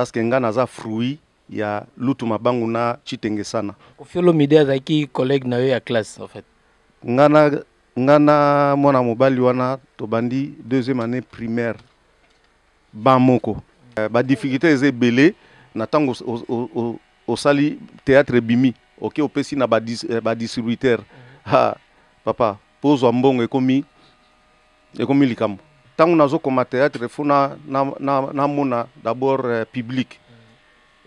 parce que nga naza fruit ya lutu mabangu na chitenge sana kofiolo mide azalaki collègue na yo ya classe en fait nga na nga na mwana mobali wana tobandi deuxième année primaire Ba moko. Euh, ba difficultés eza ebele na tango osali théâtre ebimi. Oke opesi na ba euh, distributeur. Ha papa, po ozwa mbongo ekomi ekomi likambo. Tango nazo koma théâtre fo na na na mona d'abord euh, public.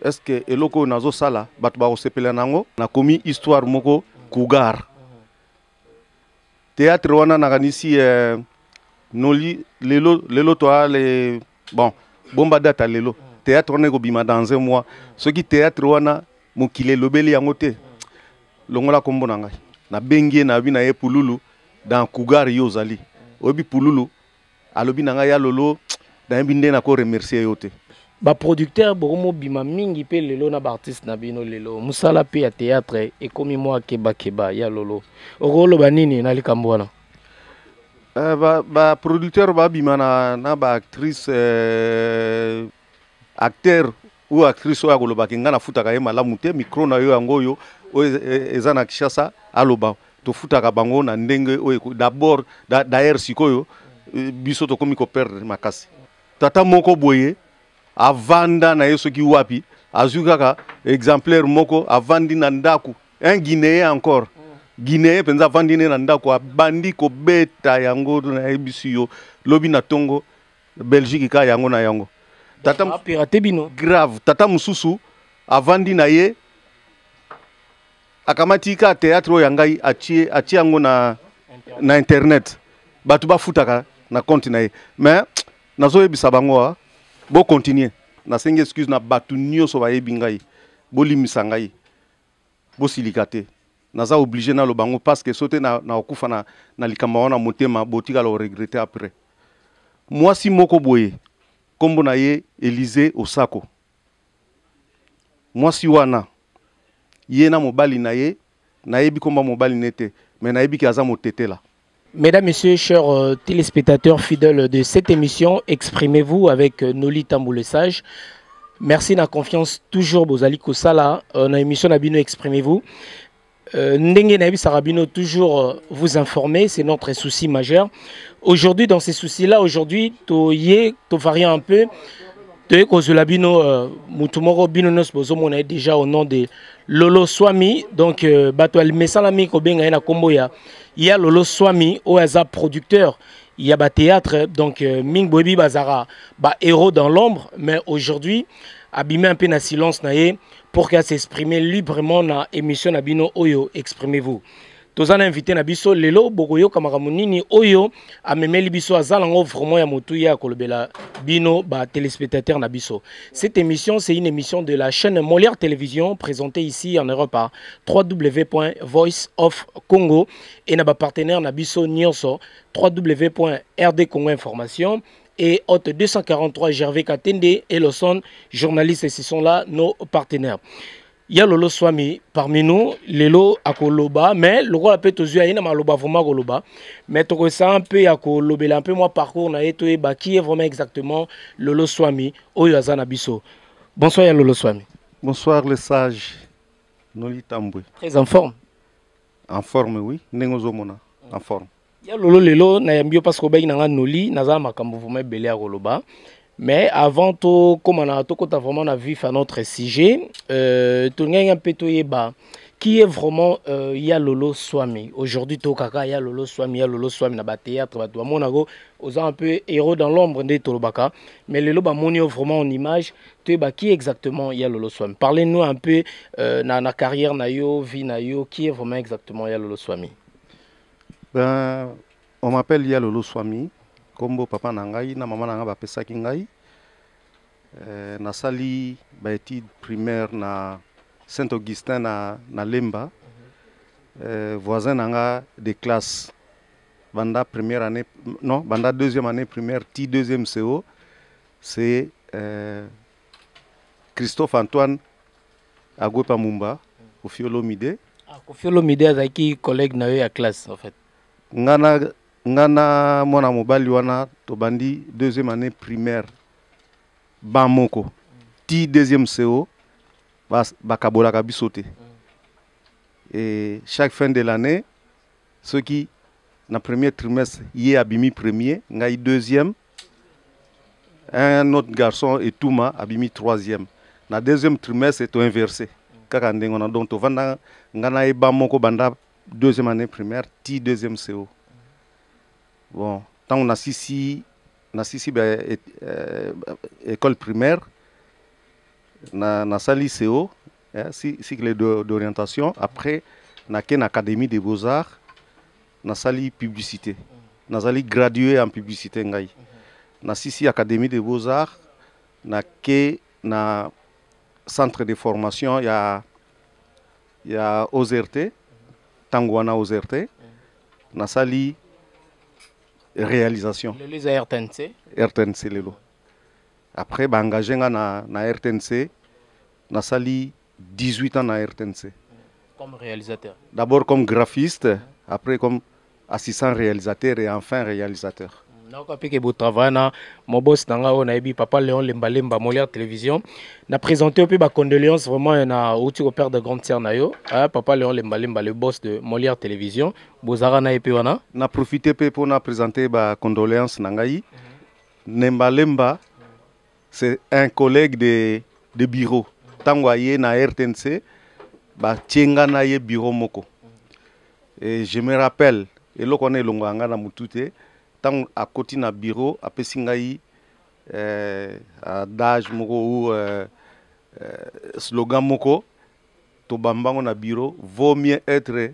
Est-ce que eloko oyo nazo sala bato bakosepela nango? Nakomi histoire moko cougar. Théâtre wana nakanisi euh, noli lelo lelo toi le bon bomba data lelo théâtre wana ekobima dans un mois soki théâtre wana mokili elobeli yango te longola kombo na ngai nabengi ye nabi na ye pululu dans cougar yo ozali oyebi pululu alobi na ngai ya lolo nayebi nde nako remercier yo te baproducteur bokomobima mingi mpe lelo na baartiste na bino lelo mosala mpe ya théâtre ekomi mwa kebakeba ya lolo okoloba nini na likambo wana eh, baproducteur ba babima na, na baactrice euh, acteur Oyo actrice oyo akoloba ke ngai nafutaka ye malamu te, micro na yo yango oyo oyo e, e, eza na Kinshasa aloba tofutaka bango na ndenge oyo d'abord d'ailleurs sikoyo e, biso tokomi ko perdre makasi. Tata moko boye avanda na ye soki wapi azwi kaka exemplaire moko avandi na ndako un guinéen encore guinéen mpenza avandi ne na ndako abandi kobeta yango nayebisi yo lobi na ntongo Belgique ka yango na yango. Tata ah, pirate bino. Grave, tata mususu avandi na ye akamati ka théâtre oyo ya ngai atie atie yango na na internet. Bato bafutaka na compte na ye. Mais nazoyebisa bango ah, bo continuer. Nasengi excuse na bato nyonso bayebi ngai. Bolimisa ngai. Bosilika te naza oblige naloba yango parceque so te nakokufa na, na likambo yango na motema botikala oregrete après mwasi moko boye nkombo na ye elize osako mwasi wana ye na mobali na ye nayebi nkombo ya mobali na ye te me nayebi ke aza motetela Mesdames, Messieurs, chers euh, téléspectateurs fidèles de cette émission, exprimez-vous avec euh, Noli Tambou le Sage. Merci na confiance toujours Bozali Kosala. Euh, na émission Nabino, exprimez-vous. Euh, Ndenge Nabi Sarabino, toujours euh, vous informer, c'est notre souci majeur. Aujourd'hui, dans ces soucis-là, aujourd'hui, to yé, to varie un peu. Toye kozula bino euh, mutu moko bino nyonso bozomona ye déjà au nom de lolo swami donc euh, bato ya mesalami kobenga ye na nkombo ya ya lolo swami oyo aza producteur ya ba théâtre donc euh, mingi boyebi bazaka ba héros dans l'ombre mais aujourd'hui abimi un peu na silence na ye pour qu'elle s'exprimer librement na émission na bino oyo exprimez-vous toza na invité na biso lelo bokoyoka makambo nini oyo amemeli biso aza nango vraiment ya motuya ya kolobela bino ba téléspectateurs na biso cette émission c'est une émission de la chaîne Molière Télévision présentée ici en Europe à www.voiceofcongo et na ba partenaires na biso nyonso www.rdcongo information et Hôte 243 Gervais Katende et Lawson, journalistes, ce sont là nos partenaires. ya lolo swami parmi nous lelo akoloba mais lokola mpe tozwi aye na maloba vraiment akoloba mais tokosaa mpe ya kolobela mpe mwa parcours na ye toyeba qui est vraiment exactement lolo swami oyo aza na biso bonsoir ya lolo swami bonsoir le sage nolitambwe très en forme en forme oui ndenge ozomona en forme ya lolo lelo nayambi yo parceke obaki na ngai noli naza na makambo vraimen ebele ya koloba mais avant tokóma na tokɔta vraiment na vif à notre sujet euh, tolingaki mpe toyeba qui est vraiment euh, ya lolo swami aujourd'hui tokaka ya lolo swami ya lolo swami na bathéâtre bato bamonako oza un peu héros dans l'ombre nde tolobaka mais lelo bamoni yo vraiment en image toyeba qui exactement ya lolo swami parlez nous un peu euh, na, na carrière na yo vie na yo qui est vraiment exactement ya lolo swami Ben, on m'appelle Yalolo Swami, kombo papa na ngai na mama na ngai bapesaki ngai. Euh, nasali ba études primaires na Saint Augustin na, na Lemba. Euh, voisin na nga de classe banda première année non banda deuxième année primaire ti deuxième CO c'est euh, Christophe Antoine Agwepa Mumba, Kofi Olomide. Ah, Kofi Olomide azalaki collègue na yo ya classe en fait. Ngana ngana mwana mobali wana tobandi deuxième année primaire ban moko ti deuxième CO bakabolaka biso te. Et chaque fin de l'année soki na premier trimestre ye abimi premier ngai deuxième un autre garçon etuma abimi troisième na deuxième trimestre to inversé kaka ndenge wana donc tovanda ngai na yeba moko banda deuxième année primaire ti deuxième co bon ntango nasisi nasisi ba euh, euh, école primaire na nasali co eh, cycle d'orientation après nake na académie des beaux arts nasali publicité nazali gradué en publicité ngai na sisi académie de beaux arts na ke na centre de formation ya ya OZRT ntango wana OZRT nasali réalisation lelo eza rtnc rtnc lelo après baengage nga na, na rtnc nasali 18 ans na RTNC. Comme réalisateur. D'abord comme graphiste, après comme assistant réalisateur et enfin réalisateur. Mm, naoka mpe ke botravaille na mobos na ngai oyo nayebi papa léon lembalemba molière télévision na présente mpe bacondoléance vraiment eh, na outi koperdre grande sœur na yo hein, papa léon lembalemba le boss de molière télévision bozalaka na ye mpe wana na profite mpe mpo na présente bacondoléance na ngai nembalemba c'est un collègue de, de bureau ntango aye na rtnc batie nga na ye bureau moko et je me rappelle eloko wana elongola nga na motu te ntango akoti na bureau apesi ngai eh, adage moko ou eh, eh, slogan moko tobambango na bureau vaut mieux être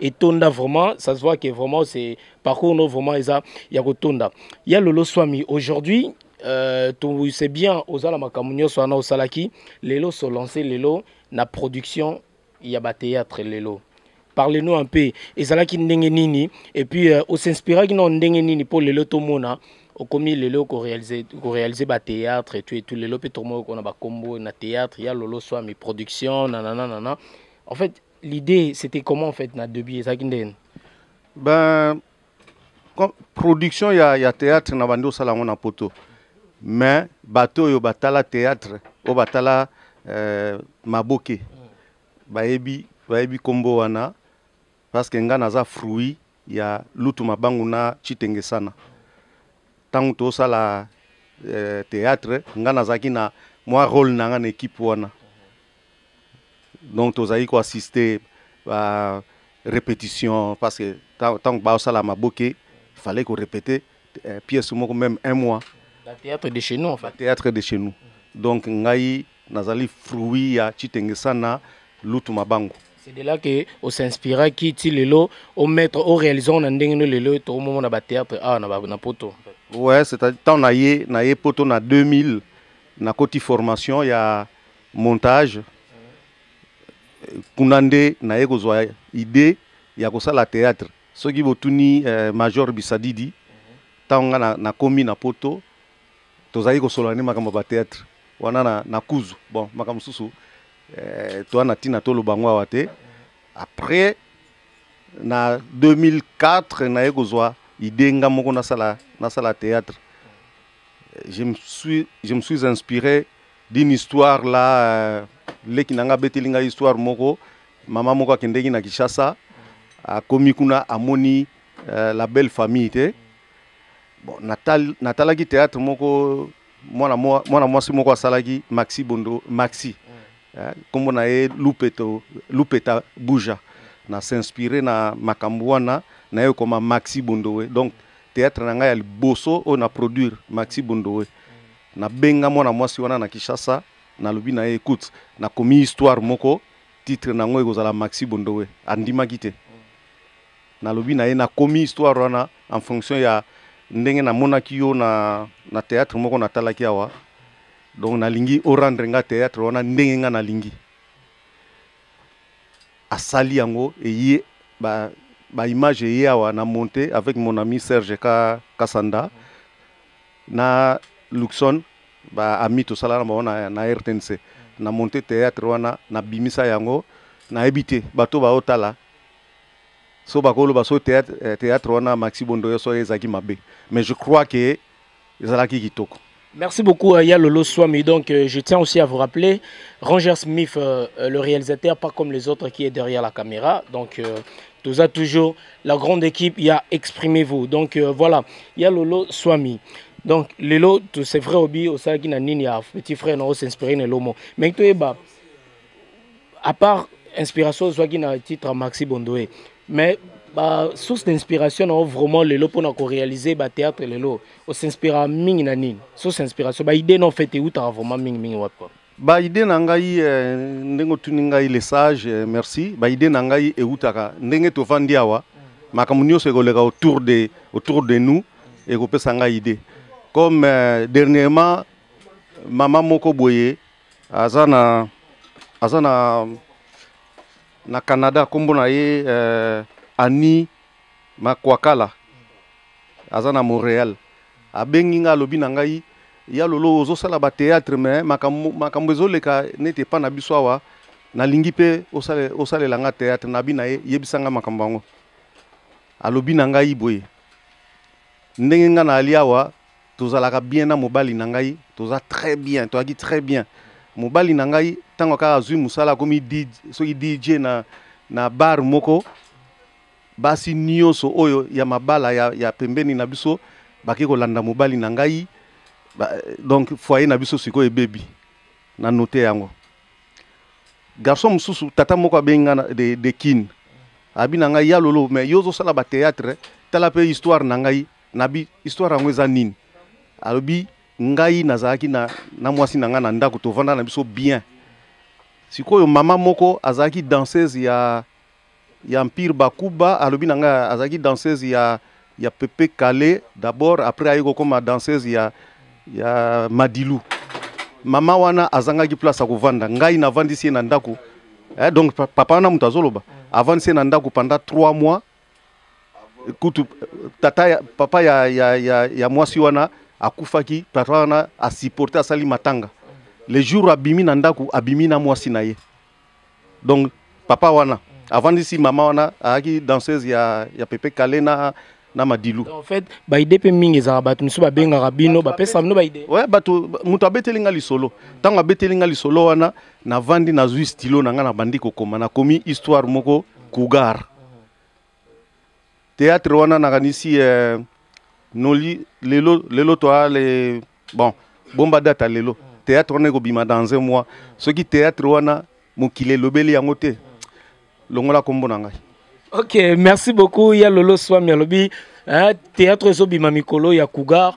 etonda vraiment ça se voit que vraiment c'est parcours no vraiment eza ya kotonda ya lolo swami aujourd'hui euh, c'est bien ozala makambo nyonso wana osalaki lelo se lancer lelo na production ya batéâtre lelo parle-nous un peu ezalaki ndenge nini et puis euh, osinspiraki na ndenge nini mpo lelo tomona okomi lelo korealize batéâtre etu etu lelo mpe tomoki kona bakombo na théâtre ya lolo swami production nanananana en fait L'idée, c'était comment en fait, na début, et ça qui Ben, production il y a, y a théâtre na bando sala ngona poto. Mais bateau yo batala théâtre, au batala euh, maboke. Baebi, baebi combo wana parce que nga naza fruit ya lutu mabangu na chitenge sana. Tangu to sala euh, théâtre, nga nazaki na moi rôle na nga na équipe wana. donc tozali ko assister ba repetition parce que ntango basala maboke fallait ko répéter euh, pièce moko même un mois ba théâtre de chez nous en fait théâtre de chez nous donc ngai nazali fruit ya chitengesana lutu mabango c'est de là que on s'inspira qui ti lelo au mettre au réalisant na ndenge no lelo to moment na ba théâtre ah na ba na poto ouais c'est à temps na ye na ye poto na 2000 na koti formation ya montage kuna nde naye kozwa idee ya kosala théâtre soki botuni eh, major bisadidi ntango nga na, nakomi na poto tozalaki kosolola nde makambo ya batheatre wana na, na kuzu bon makambo mosusu eh, toa na ntina toloba yango awa te après na 2004 naye kozwa idée nga moko nasala, nasala théâtre je me suis, je me suis inspiré d'une histoire là euh, leki na ngai abeteli ngai histoire moko mama moko akendeki na kinshasa akomi kuna amoni euh, la belle famille te bon, natal, natalaki théâtre moko mwana mwana mwasi moko asalaki maxi bondo maxi eh, nkombo na ye lupeto lupeta buja na s'inspire na makambo wana naye okoma maxi bondowe donc théâtre na ngai ya liboso oyo na produire maxi bondowe Nabenga mwana mwasi wana na Kinshasa, nalobi na ye écoute, nakomi histoire moko titre na yango ekozala Maxi Bondowe. Andimaki te. Nalobi na ye nakomi histoire wana en fonction ya ndenge namonaki yo na, na théâtre moko natalaki awa donc nalingi orendre nga théâtre wana ndenge nga nalingi asali yango eye ba, ba image eye awa na monte avec mon ami serge ka, kasanda mm. na Luxon ba amis tosala na bango na RTNC na monte théâtre wana na bimisa yango nayebi te bato baotala so bakoloba so théâtre, eh, théâtre wana Maxi Bondoyo so ezalaki mabe mais je crois que ezalaki kitoko Merci beaucoup à Yalolo Swami. Donc, euh, je tiens aussi à vous rappeler, Ranger Smith, euh, euh, le réalisateur, pas comme les autres qui est derrière la caméra. Donc, euh, toujours la grande équipe ya exprimez-vous donc euh, voilà ya lolo swami donc lelo c'est vrai obi osalaki na nini ya petit frère na osinspire na elomo mais toyeba à part inspiration ozwaki na titre maxi bondoe mais ba source d'inspiration na yo vraiment lelo mpona korealize bathéâtre lelo osinspira mingi na nini source inspiration baidée na ofete eutaka vraiment mingi mingi wapi Ba idee na ngai eh, ndenge otuni ngai le sage eh, merci. Ba idee na ngai eutaka ndenge tovandi awa makambo nyonso ekoleka autour de autour de nous ekopesa ngai idee. Comme eh, dernièrement mama moko boye aza na aza na na Canada kombo na ye eh, Annie Makwakala aza na Montreal abengi nga alobi na ngai ya lolo ozosala ba théâtre mais makambo makambo ezoleka neti epa na biso awa nalingi mpe osale, osalela nga théâtre nabi na ye yebisa nga makambo yango alobi na ngai boye ndenge nga na ali awa tozalaka bien na mobali na ngai toza très bien toyaki très bien mobali na ngai ntango kaka azwi mosala akomi soki dj na, na bar moko Basi nioso oyo ya mabala ya, ya pembeni na biso bake kolanda mobali na ngai ba, donc foyer na biso sikoyo ebebi na note yango garçon mosusu tata moko abengi nga de, de kin abi na ngai ya lolo mais yo ozosala bateatre tala mpe histoire na ngai nabi histoire yango eza nini alobi ngai nazalaki na, na mwasi na ngai na ndako tovanda na biso bien sikoyo mama moko azalaki danseuse ya ya Empire Bakuba alobi na ngai azalaki danseuse ya ya Pepe Kale d'abord après aye kokoma danseuse ya ya Madilu mama wana azangaki place ya kovanda ngai navandisi ye na ndako eh, donc papa wana moto azoloba avandisi ye na ndako pendant 3 mois kutu tata ya, papa ya, ya, ya, ya mwasi wana akufaki papa wana asupporte asali matanga le jour abimi na ndako abimi na mwasi na ye donc papa wana avandisi mama wana ayaki danseuse ya, ya pepe kale na, na madilu en fait baide mpe mingi ezalaka bato mosusu babengaka bino bapesaka bino baide ouais, bato moto abeteli nga lisolo ntango abeteli nga lisolo wana navandi nazwi stilo na nga nabandi kokoma nakomi histoire moko cougar Théâtre wana nakanisi euh, noli lelo lelo toi le bon bomba data lelo théâtre wana ekobima dans un mois soki théâtre wana mokili elobeli yango te longola kombo na ngai ok merci beaucoup ya lolo swami alobi hein, théâtre ezobima mikolo ya cougar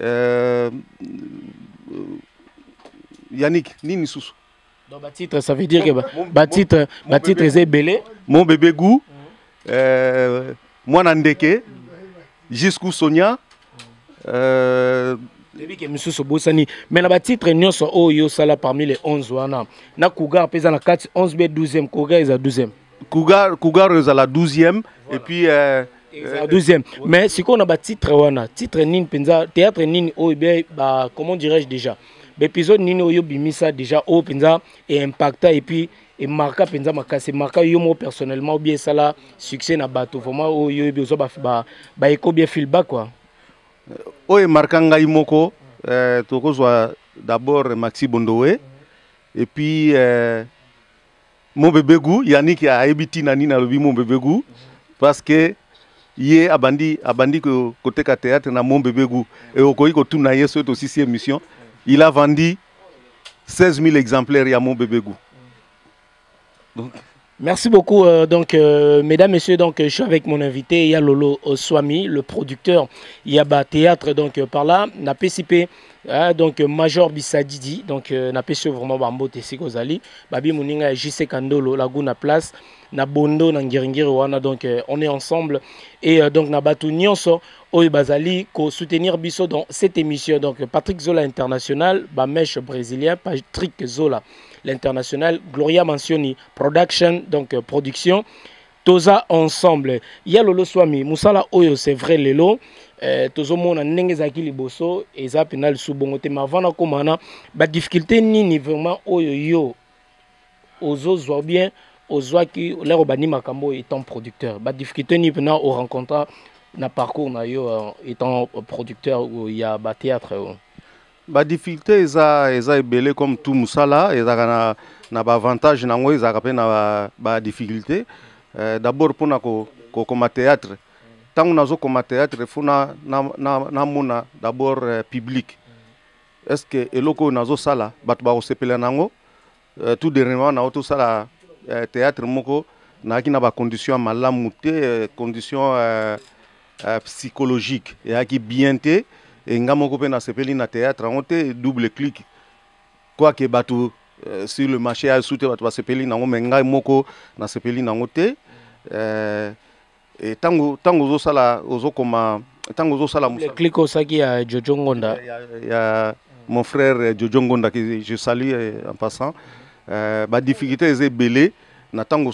Euh, Yannick, nini susu Donc, bah, titre, ça veut dire que bah, bah, titre, bah, titre, c'est belé. Mon bébé goût, euh, moi Nandeke, jusqu'où Sonia. Euh, ebike mosusu obosani mais na batitre nyonso oyo osala parmi les 11 wana na cougar mpe eza na kati 11 be 12e cougar eza 12e cougar, cougar eza la 12e voilà. et puis euh, Euh, deuxième mais si on a ba titre wana titre nini penza théâtre nini oyo be ba comment dirais-je déjà baepisode nini oyo bimisa déjà oyo penza e impacta et puis e marqua penza makasi e marqua yo moko personnellement ou bien esala succès na bato vraiment oyo oyebi ozwa ba ba eko bien feedback quoi euh, oyo emarka ngai moko euh, tokozwa d'abord maxi bondowe et puis euh, Mon bebe gout Yannick ayebi tina nini alobi mon bebe gout parce que ye abandi abandi koteka théâtre na mon bebe gout et okoki kotuna ye soki tosisi émission il a vendu 16 000 exemplaires ya mon bebe gout donc Merci beaucoup. Euh, donc, euh, mesdames, messieurs, donc, euh, je suis avec mon invité, Yalolo Swami, le producteur Yaba Théâtre, donc, par là, la PCP. Ah, donc euh, major bisadidi donc euh, napesi yo vraiment bambote esika ozali babi moninga ya jc kandolo laguna place na bondo na ngiringiri wana donc euh, on est ensemble et euh, donc na bato nyonso oyo bazali kosoutenir biso dans cette émission donc patrick zola international bameshe brésilien patrick zola l'international gloria mansioni production donc euh, production toza ensemble ya lolo swami musala oyo c'est vrai lelo eh, tozomona ndenge ezalaki liboso eza mpena lisu bongo te ma vana komana badifficulté nini vraiment oyo yo ozozwa bien ozwaki olako bandi makambo oyo étant producteur badifficulté nini mpena orencontra na parcours na yo euh, étant producteur ya bathéâtre oyo ba difficulté eza eza ebele comme tout musala ezalaka na na ba avantage na yango ezalaka mpe na ba difficulté euh, d'abord mpo na kokoma théâtre ntango nazokoma théâtre fo namona d'abord euh, public est ce que eloko oyo nazosala bato bakosepela na yango Euh, tout dernièrement nao tosala euh, théâtre moko nayaki na bacondition ya malamu te euh, condition euh, euh, psychologique eyaki bien te e nga moko mpe nasepeli na théâtre yango te double clique quoique bato euh, sur le marché ya esu te bato basepeli nango me ngai moko nasepeli nango te euh, Et tango tango ozo sala ozo koma tango ozo sala musala. Click osaki ya Jojo Ngonda. Ya, ya mon frère euh, Jojo Ngonda que je salue euh, en passant. Euh, ba difficulté eza belé na tango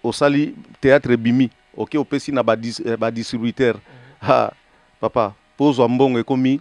osali théâtre bimi. OK, opesi na ba, dis, euh, ba distributeur. Ha, papa, pozo mbongo ekomi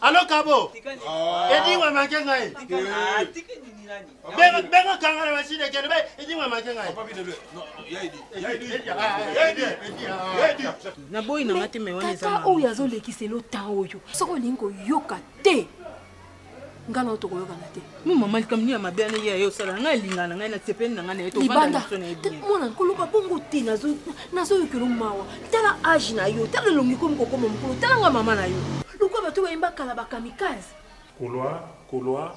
alo kabo edingwe make ngai benga kangana masine kende be edingwe make ngai naboyi nanga te me wana eza oyo azolekisela otan oyo soki olingi koyoka te ngai nao tokoyokana te mo mama likambo nini ya mabe wana ye ayosala ngai alinga na ngai na sepeli na ngai na ye tobandamwana nkoloba bongo te nazoyokelo mawa tala age na yo tala elongi komi kokoma mokolo tala ngai mama na yo lokola bato bayemba kala bakamikaze kolwa kolwa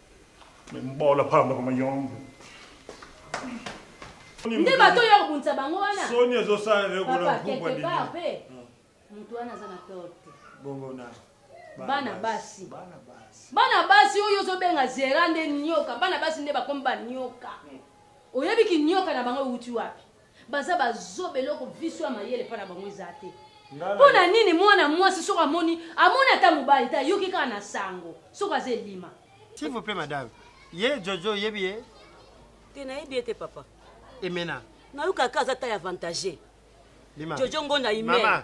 Mais mbola pamba kama yombe. Nde bato oyo ya kobundisa bango wana. Soni ezo sala yo ko na groupe ya Denis. Papa quelque part pe mutu wana aza na tort te. Bongo na bana basi. Bana basi. Bana basi oyo ozo benga Zera nde nioka. Bana basi nde bakomi ba nioka. Oyebi ki nioka na bango ewuti wapi? Baza ba zoba eloko viso ya mayele epa na bango eza te pona nini muana muasi soki amoni amoni ata mobali te ayoki kaka na sango soki aza elima. S'il vous plait madame ye jojo oyebi ye? Te nayebi ye te papa. Emena. Nayoka kaka aza taille avantage. Jojo ngonda humaine.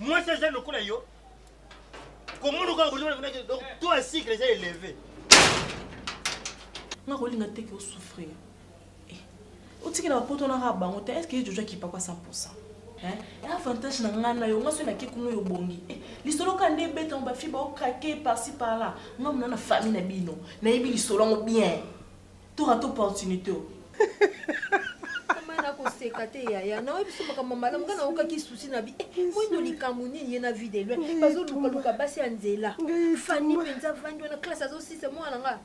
Mwasi aza lokola yo. Komono kaka komono kuna donc to a cycle eza élevé. Nga kolinga te ke souffrir. Eh. Otikela poto na ka bango te. Est-ce que Jojo akipa kwa 100%? Hein? Et avantage na nga na yo, nga so na ke kuno yo bongi. Eh, lisolo ka nde beta ba fiba au craquer par-ci par-là. Nga mona na famille na bino. Na yebi lisolo ngo bien. To rate opportunite oyo. Mama na ko seka te yaya na oyebi biso makambo malamu nga na oka ki souci na bi eh, moi no likambo nini ye na vie de loin bazo luka luka basi ya nzela Fanny penza vandi wana classe azo sisa moi na nga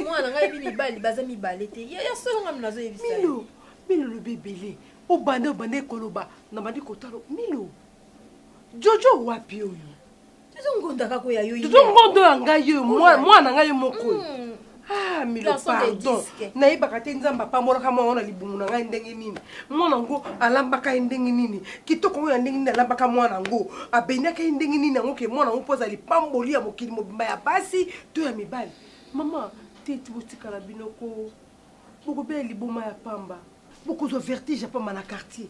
moi na nga yebi mibali baza mibale te yaya solo nga mna zo yebi sa Milo Milo lobi ebele obanda obanda ekoloba na bandi kotalo Milo Jojo wapi oyo Dodo ngonda kaka oyo ya yo. Dodo ngonda oyo ya ngai yo mwana ngai ye moko. Mm. Ah, milo pardon nayebaka te nzambe apambolaka mwana wana libumu na ngai ndenge nini mwana yango alambaka ye ndenge nini kitoko yango ya ndenge nini alambaka mwana yango abendaka ye ndenge nini yango ke mwana yango mpo aza lipamboli ya mokili mobimba ya basi to ya mibali mama te ti botikala binoko bokobela liboma ya pamba Bokozwa vertige ya pamba na quartier.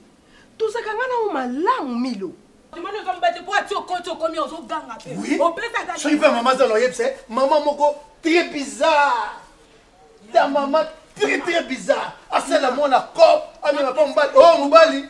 Tozalaka nga na yo malamu Milo. Kimani oza mobali te po ati okoti okomi awa ozo ganga pe Oui, opesaka soki pe mama zala oyebisa ye mama moko tres bizarre ta mama tres tres bizarre asala mwana coop amema pa mobali oyo mobali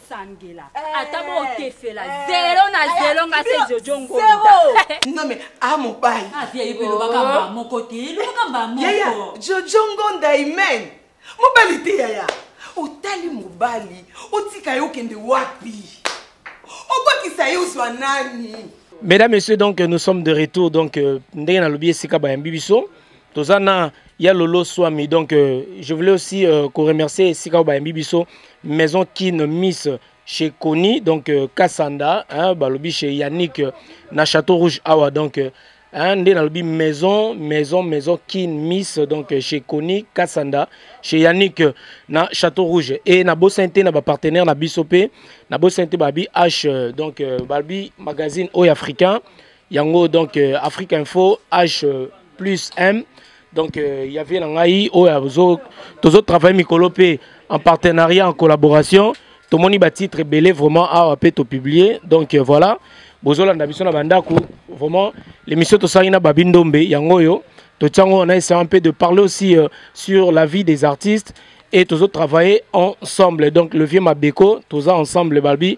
sangela eh, ata bokefela eh, zelo na eh, zelo nga se jojo ngondanome a ah, mobali ah, elobaka oh. mbaa moko te elobaka mbaa moko jojo ngonda imen mobali te yaya otali mobali otika ye okende wapi obakisa ye ozwa nani mesdames messieurs donc nous sommes de retour donc euh, ndenge nalobi esika bayambi biso toza na ya lolo swami donc euh, je voulais aussi euh, ko remercier esika oyo bayembi biso maison kin miss chez Koni donc euh, Kassanda hein, balobi chez Yannick euh, na château rouge awa donc euh, hein, nde nalobi maison maison maison kin miss donc euh, chez Koni Kassanda chez Yannick euh, na château rouge et na bosani te na bapartenaire na biso mpe na bosani te babi h euh, donc euh, balobi magazine oyo africain yango donc euh, afrique info h euh, plus m donc euh, ya vie na ngai oyo tozotravaille mikolo mpe en partenariat en collaboration tomoni batitre ebele vraiment awa mpe topublie donc voilà bozolanda biso na bandako vraiment l'émission tosali na babi ndombe yango oyo totia yango na essayant mpe de parler aussi sur la vie des artistes et tozotravaille ensemble donc le vieux mabeko toza ensemble babi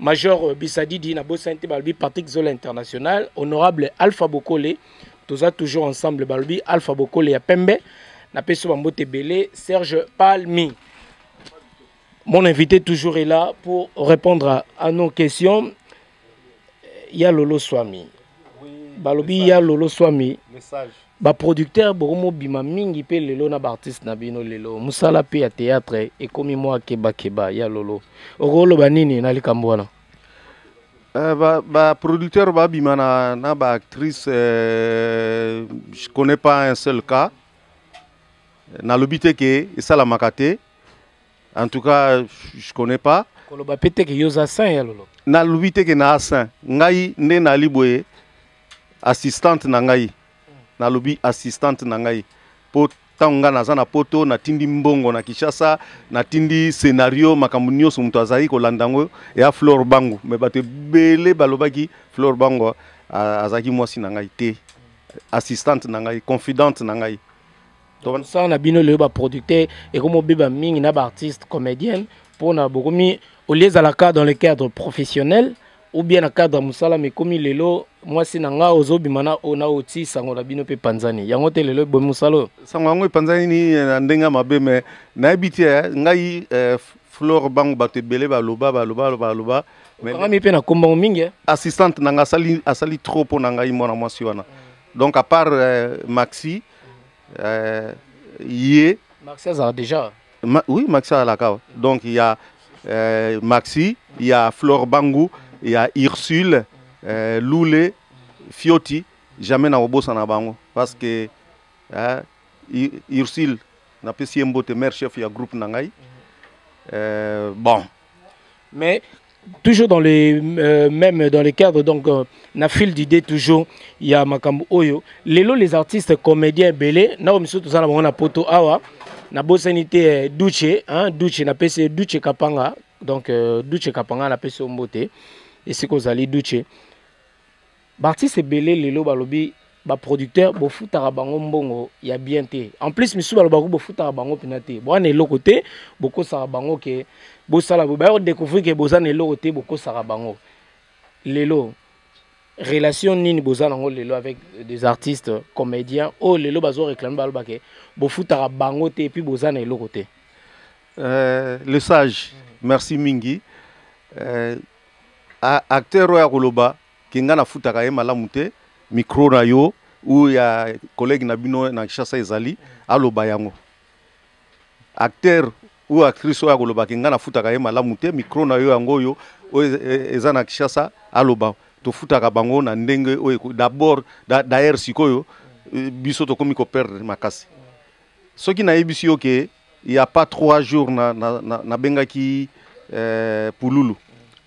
major euh, bisadidi na bosani te balobi patrick zola international honorable alpha bokole toza toujours ensemble balobi alpha bokole ya pembe napesi bambote ebele serge palmi mon invité toujours est là pour répondre à, à nos questions ya lolo swami balobi ya lolo swami baproducteur bokomobima mingi mpe lelo na baartiste na bino lelo mosala mpe ya théâtre ekomi mwa kebakeba ya lolo okoloba nini na likambo wana Euh, ba, ba producteur ba bima na, na ba actrice euh, je connais pas un seul cas nalobi te ke esalamaka te En tout cas, je connais pas. Koloba pe te ke yo za saint ya lolo. Na lobi te ke na saint. Ngai nde na liboye assistante na ngai. Na lobi assistante na ngai. Po ntango ngai naza na poto natindi mbongo na kinshasa natindi scenario makambo nyonso moto azalaki kolanda yango ya flore bango me bato ebele balobaki flore bango azalaki mwasi na ngai te assistante na ngai confidente na ngai tokosala na bino lelo baproducteur ekomi obeba mingi na baartiste comédienne mpona bokomi olie ezalaka dans le cadre professionnel ou bien na cadre ya mosala mekomi lelo mwasi na ngai ozobima na oyo na oti sango na bino mpe epanzani yango te lelo ebomi mosala oyo sango yango epanzani nini eh, na ndenge ya mabe me nayebi te eh, ngai eh, flore bango bato ebele baloba baloba baloba okangami mpe na kombango mingi eh? assistante na ngai asali, asali trop mpo na ngai mwana mwasi wana donc à part eh, maxi euh, ye maxi azala déjà Ma, oui maxi azalaka awa donc ya euh, maxi ya flore bangu ya ursule euh, lule fioti jamais na kobosana bango parce que euh, ursule napesi ye mbote mare chef ya groupe na ngai euh, bon mais toujours dans les euh, même dans les cadres donc euh, na fil d'idée toujours il y a makambo oyo lelo les artistes comédiens belé na o miso tozana bango na poto awa na bosani te eh, duche hein duche na pese duche kapanga donc euh, duche kapanga na pese mbote esika ozali duche B'artistes ebele lelo balobi ba producteurs bofutaka bango mbongo ya bien te. En plus misusu balobaka bofutaka bango pina te. Boa na eloko te, bokosaka bango ke bosala bo ba découvrir ke boza na eloko te bokosaka bango. Lelo relation nini boza nango lelo avec des artistes comédiens oh lelo bazo réclamer baloba ke bofutaka bango te puis boza na eloko te. Euh, le sage, merci mingi. Euh, acteur oyo akoloba Ke nga nafutaka ye malamu te, micro na yo ou ya collègue na bino na Kinshasa ezali aloba yango. Acteur ou actrice oyo akoloba ke nga nafutaka ye malamu te, micro na yo yango oyo oyo eza na Kinshasa aloba. Tofutaka bango na ndenge oyo d'abord d'ailleurs sikoyo biso tokomi ko perdre makasi. Soki nayebisi yo ke il y a pas trois jours na, na, na, na bengaki euh, pululu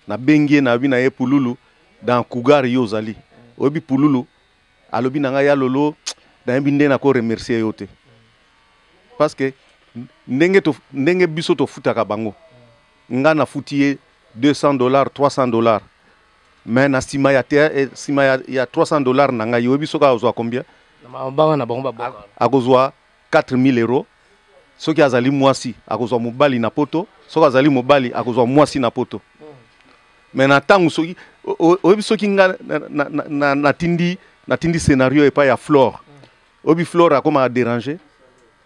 na bengi ye nabi na ye pululu dans cougar yo ozali oyebi pululu alobi na ngai ya lolo nayebi nde nako remercier yo te parce que ndenge, to, ndenge biso tofutaka bango nga nafuti ye 200 dollars 300 dollars mais na nsima ya, eh, ya, ya 300 dollars na ngai oyebi soki akozwa combien akozwa 4000 euros soki azali mwasi akozwa mobali na poto soki azali mobali akozwa mwasi na poto me na ntango soki oyebi soki nga natindi natindi scenario epai ya flore oyebi flore akomaka derange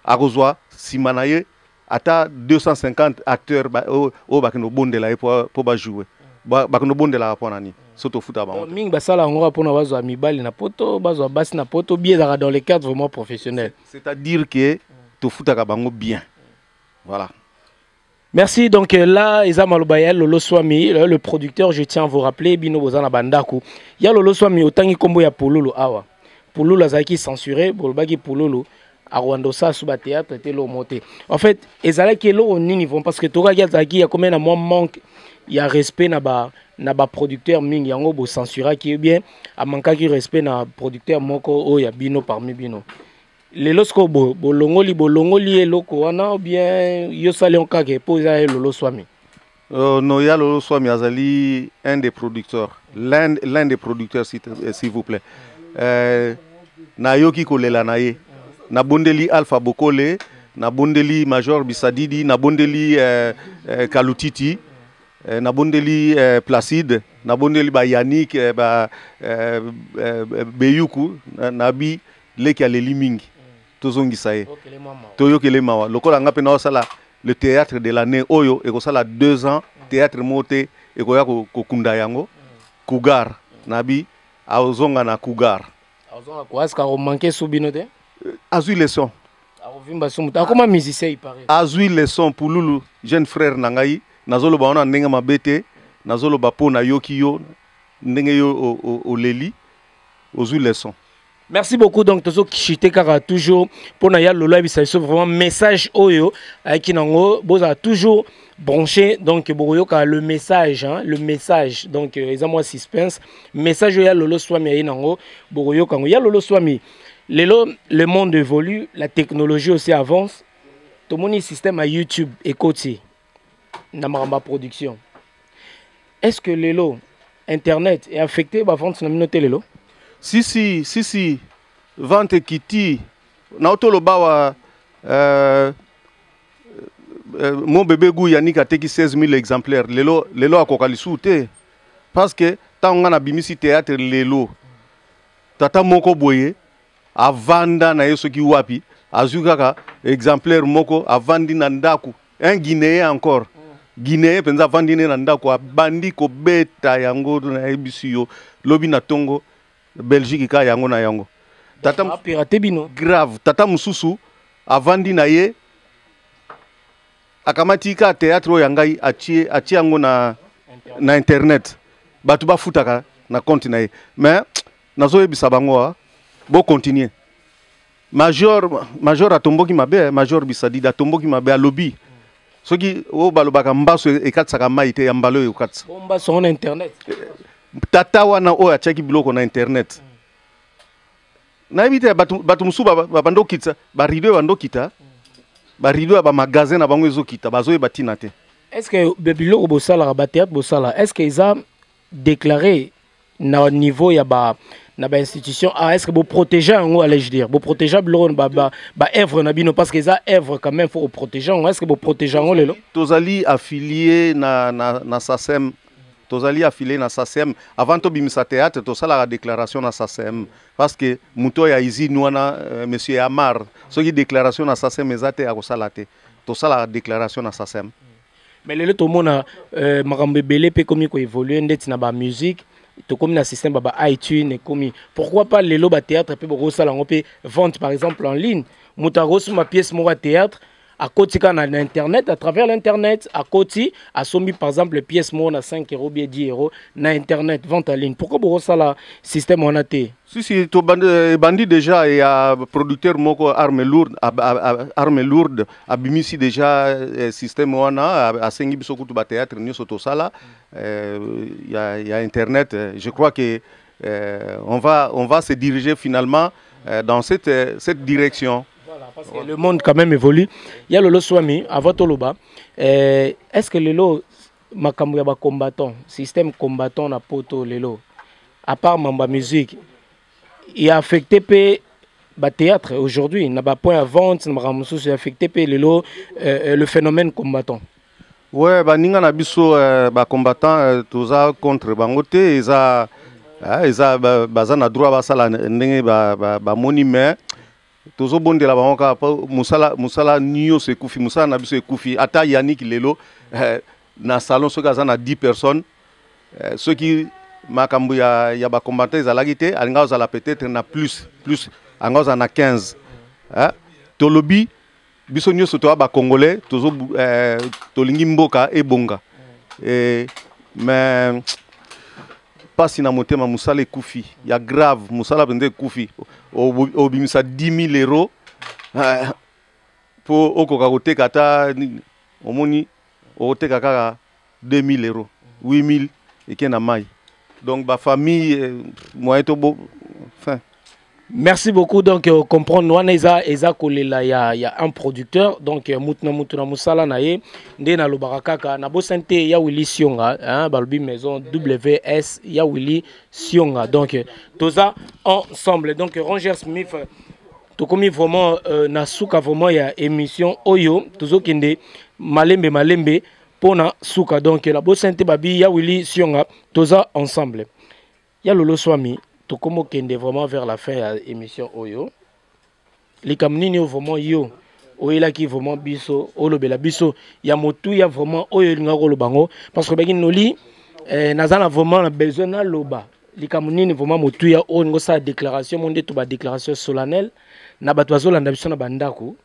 akozwa nsima na ye ata 250 acteurs oyo oh, bakende kobondela ye mpo bajoue bakende kobondelaka mpo na nini so tofuta bango mingi basala yango kaka mpona bazwa mibali na poto bazwa basi na poto bie ezalaka dans le cadre vraiment professionnel c'est à dire que tofutaka bango bien voilà Merci. Donc euh, là, Eza Malobayel, Lolo Swami, euh, le producteur, je tiens à vous rappeler, Bino Bozana Bandaku. Ya Lolo Swami, autant qu'il combo ya Pololo, awa. pululu azalaki censure bolobaki pululu akolanda osasu bateatre te eloko moko te en fait ezalaki eloko nini vraimen parce que tokaki azalaki akomai na mwa manque ya respect na ba na baproducteur mingi yango bocensuraki ye bien amankaki respect na producteur moko oyo ya bino parmi bino lelo sikoyo bo, bolongoli bolongoli ye eloko wana bien yo sali onkake mpo eza ye loloswami Euh, non, Yalolo Swami Azali, un des producteurs, l'un l'un des producteurs, s'il euh, s'il vous plaît. Euh, nayoki kolela na ye nabondeli alpha bokole nabondeli major bisadidi nabondeli euh, euh, kalutiti euh, nabondeli euh, placide nabondeli bayanik euh, ba, euh, euh, beyuku na, nabi leki aleli mingi tozongisa ye toyokele mawa lokola nga mpe naosala le théâtre de l'année oyo ekosala deux ans mm. théâtre moko te ekoya kokunda yango mm. cougar mm. nabi aozonga na cougar euh, azwi leson akoma musicien azwi leson pululu jeune frère na ngai nazoloba wana ndenge mabe te nazoloba mpo nayoki yo ndenge yo oleli ozwi leson merci beaucoup donc tozo chute kaka toujours pona ya lolo ayebisa biso vraiment message oyo ayaki nango bozala toujours branché donc bokoyoka le message hein, le message donc euh, eza mwa suspense message oyo ya lolo swami aye nango bokoyoka yango ya lolo swami lelo le monde évolue la technologie aussi avance tomoni système ya youtube ekoti na makambo ya production est ce que lelo internet e affecte bavente na bino te lelo sisi sisi vente ekiti naotoloba wa euh, euh, mon bebe gu yanik ateki 16 000 exemplaires lelo, lelo akoka lisusu te parce que ntango ngai nabimisi théâtre lelo tata moko boye avanda na ye soki wapi azwi kaka exemplaire moko avandi na ndako un guinéen encore guinéen mpenza avandi ne na ndako abandi kobeta yango nayebisi yo lobi na ntongo belgique ka yango na yango tata pirate bino grave tata mosusu avandi na ye akamati ka théâtre oyo ya ngai atie atie yango na na internet bato bafutaka na compte na ye mais nazoyebisa bango ah, bo continuer major major atomboki mabe eh, major bisadida atomboki mabe alobi soki oyo balobaka mbaso e-, ekatisaka mai te ya mbala oyo ekatisa mbaso yango na internet eh, tata wana oyo atiaki biloko na internet nayebi te bato mosusu babanda okitisa barido ebanda okita barido ya bamagasin na bango ezokita bazoyeba ntina te est ce que biloko bosalaka bateatre bosalaka est ce que eza déclarer na niveau ya ba na ba institution ah, est-ce que vous protégez en haut allais-je dire vous protégez biloko ba ba, ba œuvre na bino parce que ça œuvre quand même faut protéger est-ce que vous protégez en haut lelo tozali affilié na na na SACEM tozali affilié na SACEM avant to bimisa théâtre to sala la déclaration na SACEM parce que muto ya usine wana euh, monsieur Amar soki déclaration na SACEM ezate akosala te to sala la déclaration na SACEM mais lelo tomona euh, makambo ebele mpe ekomi koévolue ndeti na bamusike tokomi na système baba itune ekomi pourquoi pas lelo batéâtre mpe bokosala yango mpe vente par exemple en ligne moto akosomba pièce moko ya théâtre akoti kaka na, na internet à travers l'internet akoti asombi par exemple pièce moko na 5 euro bie 10 euro na internet vente en ligne pourquoi bokosala système wana te sisi tobandi ebandi déjà ya producteur moko arme lourde arme lourde abimisi deja eh, système wana asengi biso kutu ba théâtre nioso tosala eh, ya, ya internet eh, je crois que eh, on va on va se diriger finalement eh, dans cette eh, cette direction voilà, parce que le monde quand même évolue ya lolo swami avant toloba eh, est ce que lelo makambo ya ba combattant système combattant na poto lelo à part mamba musique e affecte mpe bathéâtre aujourd'hui na bapoint ya vente na makambo mosusu e affecte mpe lelo euh, euh, le phénomène combattant we baninga na biso euh, bacombattant toza contre bango te eza ah, eza baza na droit basala ndenge bamoni ba, ba mais tozobondela bango kaka mpo mosala mosala nyonso ekufi mosala na biso ekufi ata yaniki lelo eh, na salon soki aza na 10 personnes eh, soki makambo ya, ya bakombanta ezalaki te alinga ozala peut-être na plus plus anga ozala na 15 eh? tolobi biso nyonso toya bacongolais tozo eh, tolingi mboka ebonga eh, mais mpasi na motema mosala ekufi ya grave mosala mpenza ekufi obimisa 10 000 euro eh, mpo okoka koteka ata nini omoni okoteka kaka 2000 euros 8000 eke na mai donc ba famille euh, moyen to bo fin Merci beaucoup donc euh, comprendre wana eza eza kolela ya ya un producteur donc euh, mutu na mutu na musala na ye nde na lobaka kaka na bosani te ya Willy Sionga hein balobi maison WS ya Willy Sionga donc euh, toza ensemble donc euh, Ranger Smith euh, tokomi vraiment euh, na suka vraiment ya émission oyo tozokende malembe malembe pona suka donc la bosente babi ya Willy Sionga toza ensemble ya Lolo Swami tokomo kende vraiment vers la fin ya émission oyo likambo nini oyo vraiment yo oyelaki vraiment biso olobela biso ya motuya vraiment oyo elingaki koloba yango parce que obaki noli eh, naza na vraiment na besoin naloba likambo nini vraiment motuya oyo olingi osala déclaration mo nde to badéclaration solennelle na bato bazolanda biso na bandako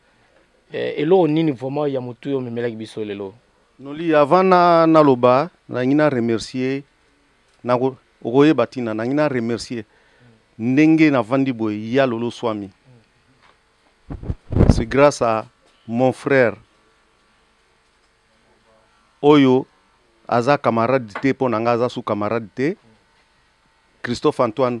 Eh, eloko nini vraiment ya motu yo omemelaki biso lelo noli avant na naloba nangi na remercier nako okoyeba ntina nangi na remercier ndenge navandi boye ya lolo swami c'est grâce à mon frère oyo aza camarade te mpo na ngai aza su camarade te christophe antoine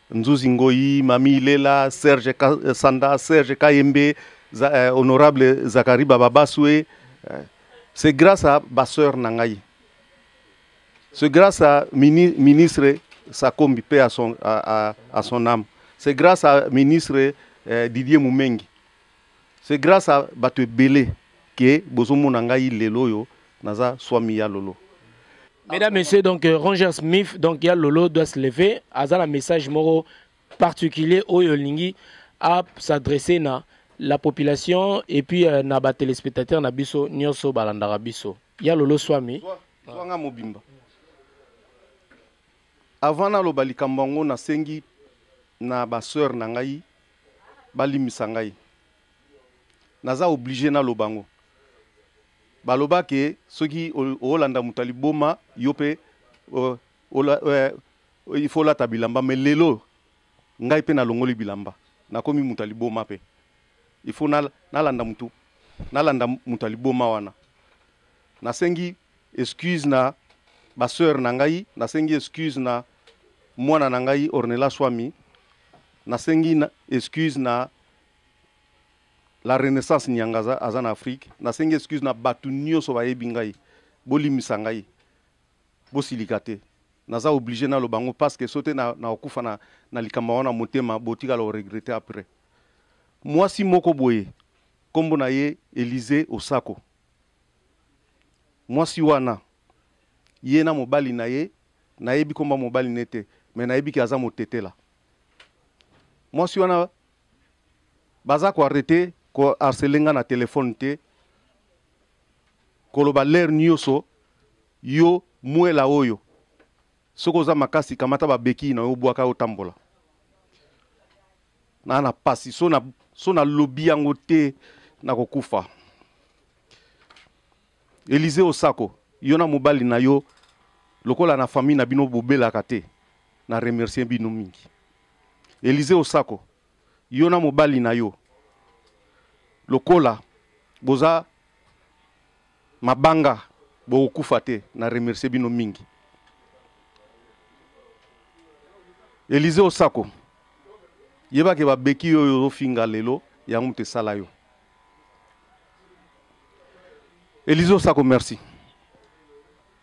Nzuzi Ngoyi, Mami Ilela, Serge Sanda, Serge Kayembe, za, eh, honorable Zachary Bababaswe. Eh, c'est grâce à Basseur Nangaï. C'est grâce à mini, ministre Sakombi, paix à son, à, à, à son âme. C'est grâce à ministre eh, Didier Moumengi. C'est grace à batu ebele que bozo mona ngai lelo oyo naza swami ya lolo. Mesdames, Messieurs, donc euh, Ranger Smith, donc il y a Lolo doit se lever. Aza un message moro particulier au Yolingi à s'adresser na la population et puis euh, na ba téléspectateurs na biso nyoso balandara biso. Il y a Lolo Swami. Swanga mobimba. Avant na loba likambo na sengi na ba sœur na ngai balimbisa ngai naza oblige naloba yango baloba ke soki olanda moto ya liboma yo mpe il faut olata bilamba me lelo ngai mpe nalongoli bilamba nakomi moto ya liboma mpe il faut nalanda moto nalanda moto ya liboma wana nasengi excuse na ba sœur na ngai nasengi excuse na mwana na ngai ornela swami nasengi na excuse na la renaissance nyanga aza, aza na afrique nasengi excuse na bato nyonso bayebi ngai bolimisa ngai bosilika te naza oblige naloba yango parce que so te nakokufa na, na, na likambo yango na motema botikala oregrete après mwasi moko boye nkombo na ye elize osako Mwasi wana ye na mobali na ye nayebi komba mobali ne te me nayebi ke aza motetela mwasi wana baza koarrete koharcele nga na telefone te koloba lere nyonso yo mwela oyo Soki oza makasi kamata ba bequille na yo bwaka yo tambola. Na na pasi so na so na lobi yango te na kokufa. Elise Osako, yo na mobali na yo lokola na famille na bino bobelaka te. Na remercier bino mingi. Elise Osako, yo na mobali na yo lokola boza mabanga bokokufa te na remercie bino mingi elize osako yeba ke babeki yo oyo ozofinga lelo yango moto esala yo elize osako merci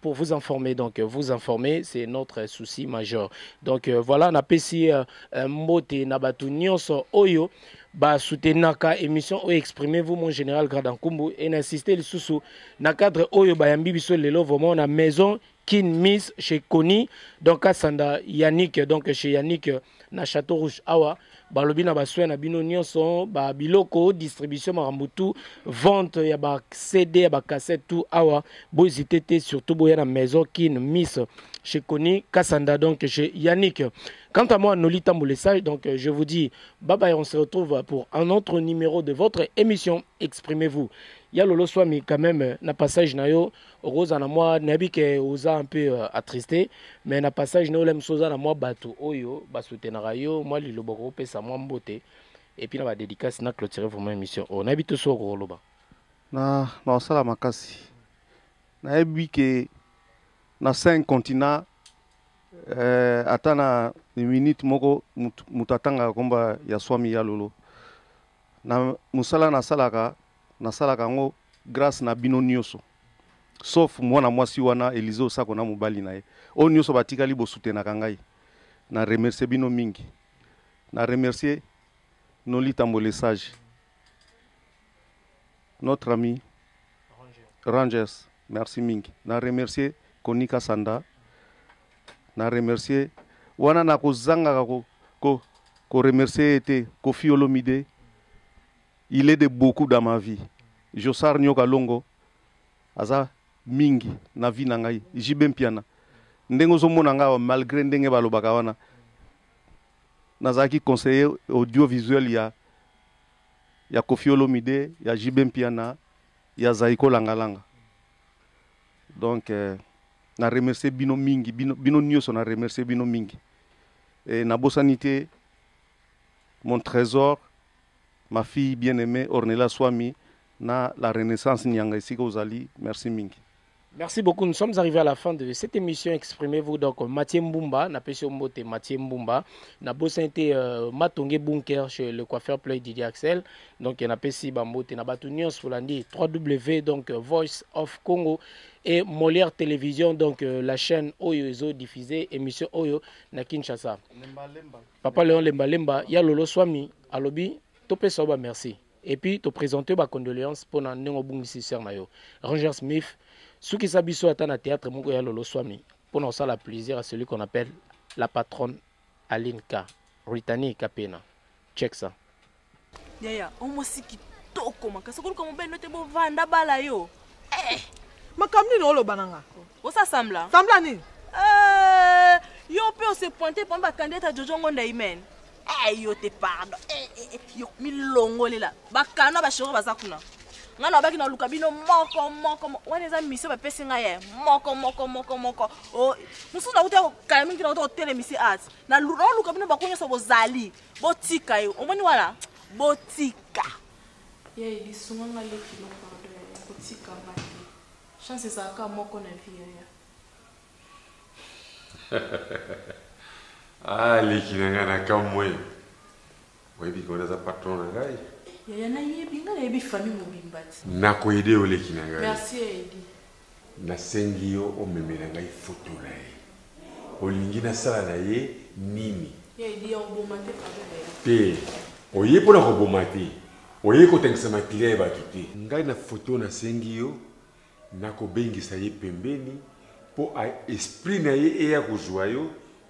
pour vous informer. Donc, euh, vous informer, c'est notre euh, souci majeur. Donc, euh, voilà, na pesi mbote na batu nyonso oyo ba soutenaka émission oyo exprimez-vous mon général Gradankumbu et n'insister le sous na cadre oyo ba yambi biso lelo vraiment na maison Kin Miss chez Koni donc Asanda Yannick donc chez Yannick na Château Rouge awa ah balobi na basoin na bino nyonso ba biloko distribution makambo tout vente ya ba cd ya ba cassette tout awa bohésite te surtout boya na maison kin miss chez koni kasanda donc chez yannick quant à moi noli tamboule sage donc je vous dis bye bye on se retrouve pour un autre numéro de votre émission exprimez-vous ya lolo swami quand même na passage na yo okoza na mwa nayebi ke oza un peu euh, attriste mais na passage na ola mosusu oza na mwa bato oyo basutenaka yo mwa liloba okopesa mwa mbote epuis na badédicace na clôture vraiment émission oyo nayebi to soko kokoloba na naosala makasi nayebi ke na cinq continent eh, ata na minute moko moto atangaka nkomba ya swami ya lolo na mosala nasalaka Nasalaka yango grâce na bino nioso. Sauf mwana mwasi wana Elise Osako na mobali na ye. Oyo nioso batikali bo soutenaka ngai. Na remercier bino mingi. Na remercier Noli Tambo le sage. Notre ami Rangers. Merci mingi. Na remercier Konika Sanda. Na remercier wana na kozangaka ko ko ko remercier ye te Koffi Olomide. Il est de beaucoup dans ma vie Jossart Nioka Longo aza mingi na vie na ngai JB Mpiana ndenge ozomona ngai awa malgre ndenge balobaka wana nazalaki conseiller audiovisuel ya ya Koffi Olomide ya JB Mpiana ya Zaiko Langalanga donc euh, na remercier bino mingi bino, bino nioso na remercier bino mingi e, nabosani te Mon tresor, ma fille bien aimee Ornella Suami na la Renaissance Nyanga esika ozali, merci mingi. Merci beaucoup, nous sommes arrivés à la fin de cette émission Exprimez-vous. Donc, Mathieu Mbumba, na pesio mbote Mathieu Mbumba, na bossa été euh, Matongue Bunker chez le coiffeur Play Didier Axel. Donc, na pesi bambote na batu nyons fulandi 3W donc euh, Voice of Congo et Molière Télévision donc euh, la chaîne Oyo Ezo diffusée émission Oyo na Kinshasa. Lemba lemba. Papa Leon Lemba Lemba ya Lolo Swami alobi topesa yo ba merci et puis to présenter ba condoléances mpo na ndenge obungisi sœur na yo Ranger Smith sukisa biso ata na théâtre moko ya Lolo Swami mpo na kosala plaisir à celui qu'on appelle la patronne Aline K. Ritani Kapena. Check ça. Yaya, o mwasi kitoko makasi. Okoluka mobali no te bovanda bala yo. Eh, makambo nini oloba na nga? Osa sambla. Sambla nini? Eh, yo mpe ose pointe pamba kandidata Jojo Ngonda Imen. Eh, yo te pardon. Eh, eh, eh, yo milongolela. Bakana bashoro baza kuna. Nga na baki na luka bino moko moko moko. Wana eza mission ba pesi nga ye. Moko moko moko moko. Oh, mususu na kuta ko kala mingi na kuta ko telemisi at. Na luka bino bakonyo so bozali. Botika ye omoni wana botika. Ya Eli sunga nga leki no pardon yaya kotika nga te chance ezala kaka moko na vie yaya. Ah leki na nga na kamue oyebi ke wana aza patron na ngai. Yaya nayebi nga nayebi famille mobimba ti. Nako aider yo leki na ngai. Merci ya Eli. Nasengi yo omemela ngai foto na ye. Olingi nasala na ye nini? Ya Eddy, ya koboma te pardon bella. Te, oye mpo na koboma te. Oye kotangisa makila ya bato te. Ngai na foto nasengi yo nakobengisa ye pembeni mpo a esprit na ye eya kozua yo.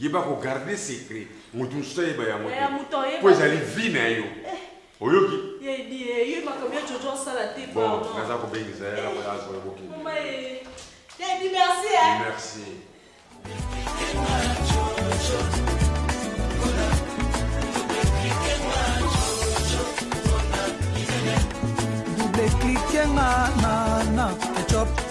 Yeba ko garder secret mutu mususu ayeba yango te po ezali vie na yo oyoki. Bon naza ko bengisa ye awa azo ya boke. Merci. Double clique nga na na ketchup.